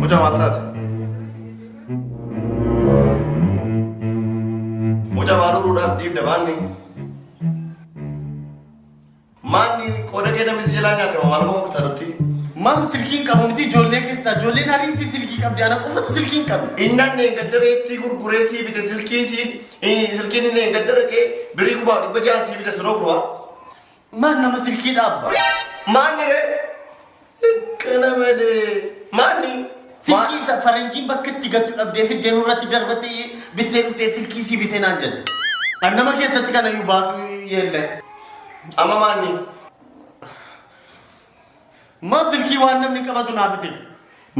Mucaa maal taate? Mucaa maal uruudhaaf dhiibda maanni? Maanni qooda kee namni si jalaa nyaate maal bahu akka taatutti. Maaf silkiin qabu miti ijoollee keessaa ijoolleen ariitii silkii qabdi ana qofatu silkiin qabu. Innan dheengaddara ittii gurguree sii bite silkii sii silkiin inni dheengaddara kee birii kumaa dhibba ja'a sii bite sunoo kumaa. Maan nama silkii dhaabba. Maanni ree Kana malee maali? Silkii isa faranjiin bakka itti gattu dhabdee fiddee nurratti darbatti bittee dhuftee silkii sii bitee naan jette. An nama keessatti kana iyyuu baasuu yeellee. Amma maali? Maa silkii waan namni qabatu naa bitee.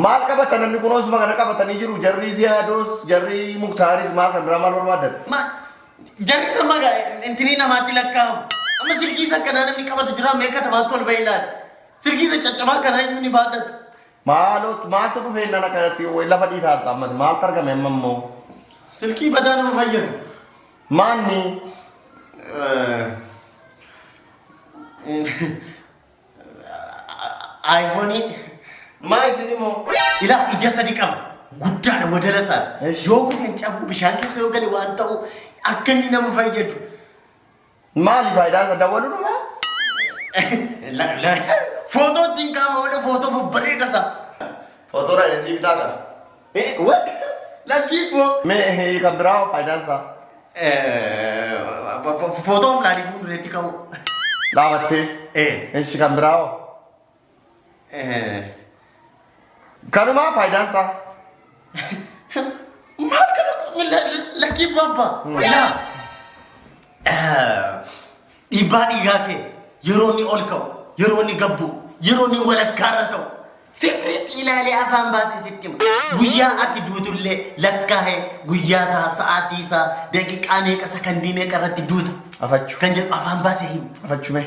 Maal qabata namni kun osuma kana qabatanii jiru jarri ziyaadoos jarri muktaaris maal kan biraa maal barbaadan? Ma jarri san maga intinii namaatti lakkaa'amu. Amma silkii isa akkanaa namni qabatu jira meeqa tamaatti ol bahee ilaali. Silkii isa caccabaa kana eenyu ni baadhata? Maaloo maaltu dhufee nana kanatti woy lafa dhiitaa harta ammas maaltu argame amma immoo Silkii badaa nama fayyadu. maanni Aayifoonii maa isin immoo ilaa ija sadi qaba. Guddaadha wadala isaa. Eesh. Yoo kufe hin cabu bishaan keessa yoo gale waan ta'u akka inni nama fayyadu. Maali faayidaan isaa dawwaluudhuma? Footoo ittiin kaa'ama wala footoo babbareeda isaa. Footoo dha isii bitaa qaba. Lakkii boo. Mee kan biraa hoo faayidaan isaa? Footoo filaalee fuuldureetti ka'u. Dhaabattee. Ee. Ishi kan biraa hoo? Kanumaa faayidaan isaa. Maal kana lakkii babba ilaa dhiibbaa dhiigaa kee yeroo inni ol ka'u yeroo inni gabbu yeroo inni walakkaa irra ta'u sirriitti ilaalee afaan baasee sitti hima. Guyyaa ati duutullee lakkaa'ee guyyaa isaa sa'aatii isaa daqiiqaa meeqa sakandii meeqa irratti duuta. Afachu. Kan jedhu afaan baasee hima. Afachu mee.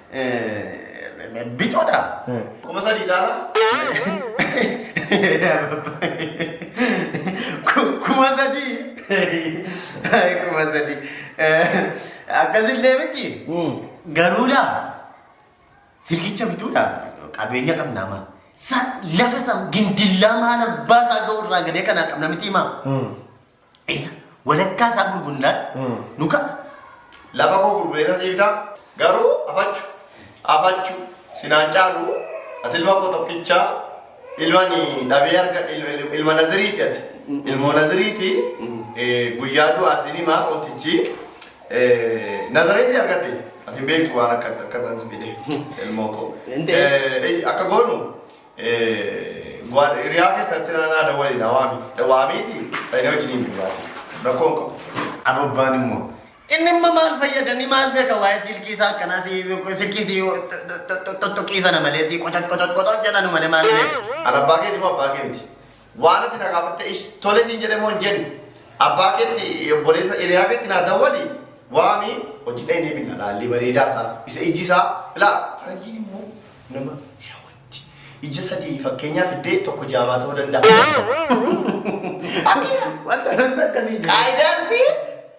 Bicoodha. Kuma sadii caalaa. Ku- Kuma sadii. Kuma sadii. Akkasillee miti. Garuudha. Silkicha bituudha. Qabeenya qabna amma. Sa- Lafa san gindillaa maal abbaa isaa ga'u irraa gadee kanaa qabna miti himaa. Isa walakkaa isaa gurgundaan nu ka'a. Lafa koo gurgureetan siif ta'a. Garuu afachu afachu sinaan caalu ati ilma koo tokkicha ilmani dhabee arga il- ilma naziriiti ati ilmoo naziriiti eh, guyyaa du'aa sin himaa mootichi eh, nazareen si argadhe ati hin beektu waan akka akkatan si fide ilmoo koo Hin ta'e. Eh, eh, akka goonu Riyaa keessatti naannaa waliin hawaami. Waamiiti dhaqnee wajjin hin jiraatu. Rakkoon qabu. Ababbaan immoo. Inni immoo maal fayyada ni maal beeka waa'ee silkii isaa akkanaa si silkii si tuttuqii sana malee si qotat qotat qotat jedhanu malee maal beeka. Alabbaa keeti moo abbaa kee miti? Waan ati na gaafatte ish tole siin jedhe moo hin jenne. Abbaa keetti obboleessa hiriyaa keetti naa dawwali waami hojii dhayinee binna laallee bareedaa isaa isa ijji isaa ilaa faranjiin immoo nama shawatti ija sadii fakkeenyaa fiddee tokko jaamaa ta'uu danda'a. Akira wanta wanta akkasii. Qaayidaansii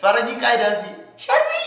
faranjii qaayidaansii sharrii.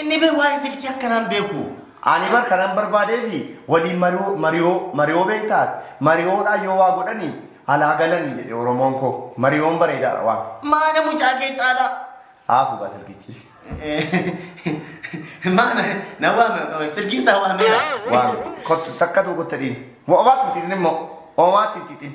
Inni bar waa'ee silkii akkanaan beeku. Ani bar kanan barbaadeefi waliin mariyoo mariyoo mariyoo beektaa ati mariyoodhaan yoo waa godhani alaa galani jedhe oromoon koo mariyoon bareedaadha waan. Maana mucaa kee caalaa. Haa fugaa silkichi. Maana na waame silkiin isaa waameera. Waan kottu takka tuu kottadhiin. Waa obaatti xixiin immoo omaatti xixiin.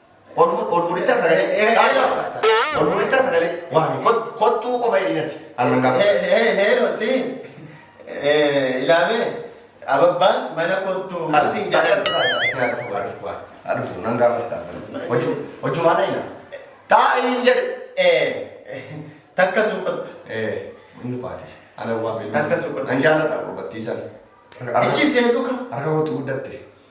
Olfuudhitta sagalee qaali qabda. Olfuudhitta sagalee waami kottuu qofa hidhinati. Annan gaafa. Heero si ilaamee ababbaan mana kottuu siin jedhan. Adufu nan gaafadha. Hojii hojumaa na hina. Taa'ii hin jedhe. Takka suuqattu. Inni faate. Ana waa beeku. Takka suuqattu. Nan jaalladha gurbattii sana. Ishii seenduka. Harka kootti guddatte.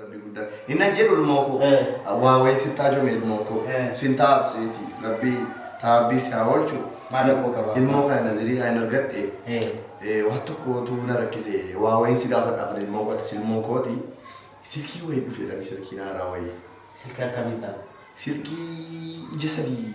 Rabbi guddaa. Inni an jedhu ilmoo koo. Waa wayii si taajome ilmoo koo. Sin taabseeti. Rabbi taabbii si haa oolchu. Maal akkoo qaba? Ilmoo kana nazirii kan hin argadhe. Waan tokkootu na rakkise. Waa wayiin si gaafadha afan ilmoo koo atis ilmoo kooti. Silkii wayii dhufeedhaan silkii naaraa wayii. Silkii akkamii ta'a? Silkii ija sadii.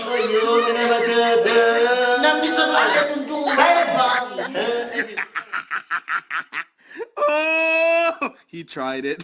Oh, he tried it.